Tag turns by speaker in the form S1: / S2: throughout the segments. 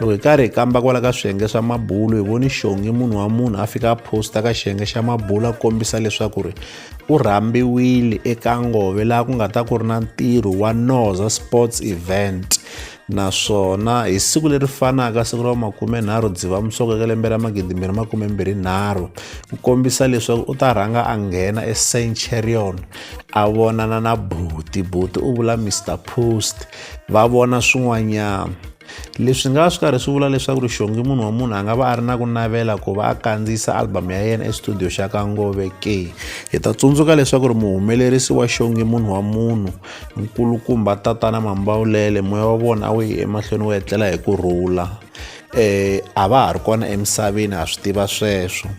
S1: loko hi karhi hi kamba kwala ka swiyenge swa mabulo hi voni xongi munhu wa munhu a fika a posta ka xiyenge xa mabulo a kombisa leswaku ri u rhambiwile eka ngove laha ku nga ta ku ri na ntirho wa noza sports event naswona hi siku leri fanaka siku ra makumenharhu dzivamusoko eka lembe ra magidimbirhi makumembirhi nharhu ku kombisa leswaku u ta rhanga a nghena ecenchurion a vonana na buti buti u vula mr post va vona swin'wanyana leswi nga va swi karhi swi vula leswaku rixongi munhu wa munhu a nga va a ri na ku navela ku va a kandziyisa album ya yena estudio xa ka ngove ke hi ta tsundzuka leswaku ri muhumelerisi wa xongi munhu wa munhu nkulukumba tatana mambawulele moya wa vona a wu yi emahlweni wu etlela hi ku rhula um a va ha ri kona emisaveni ha swi tiva sweswo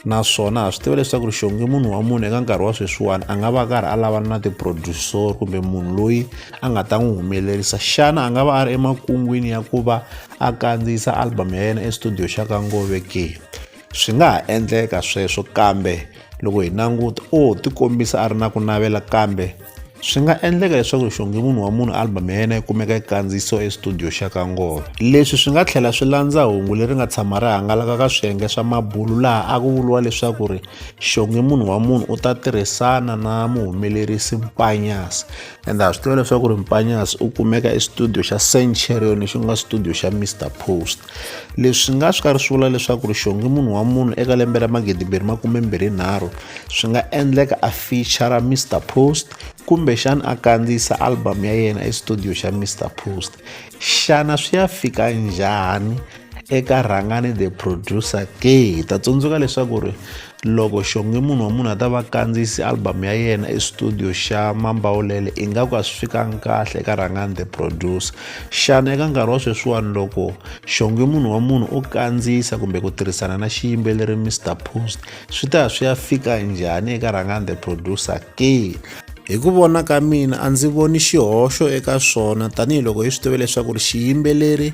S1: naswona ha swi tiva leswaku ri xonge munhu wa munhu eka nkarhi wa sweswiwani a nga va karhi a lavana na tiproducer kumbe munhu loyi a nga ta n'wi humelerisa xana a nga va a ri emakungwini ya ku va a kandziyisa album ya yena estudio xa ka ngove ke swi nga ha endleka sweswo kambe loko hi languta o tikombisa a ri na ku navela kambe swi nga endleka leswaku xonge munhu wa munhu album ya yena yi kumeka yi kandziyiso estudio xa ka ngoma leswi swi nga tlhela swi landza hungu leri nga tshama ri hangalaka ka swiyenge swa mabulu laha a ku vuriwa leswaku ri xonge munhu wa munhu u ta tirhisana na muhumelerisi mpanyasi ende ha swi tiva leswaku ri mpanyasi u kumeka estudio xa centurion lexi nga studio xa mr post leswi nga swi karhi swi vula leswaku ri xonge munhu wa munhu eka lembe ra magidimbirhi makumembirhi nharhu swi nga endleka a feature mr post kumbexana a kandziyisa album ya yena estudio xa mr post xana swi ya fika njhani eka rhangani the producer ke hi ta tsundzuka leswaku ri Loko Xongi munhu wa munhu a ta va kandziyisi album ya yena estudio xa Mambawulele ingaku a swi fikanga kahle eka Rhangani the producer. Xana eka nkarhi wa sweswiwani loko Xongi munhu wa munhu o kandziyisa kumbe ku tirhisana na xiyimbeleri Mr Post swi ta ya swi ya fika njhani eka Rhangani the producer ke? Hi ku vona ka mina a ndzi voni xihoxo eka swona tanihiloko hi swi tiva leswaku ri xiyimbeleri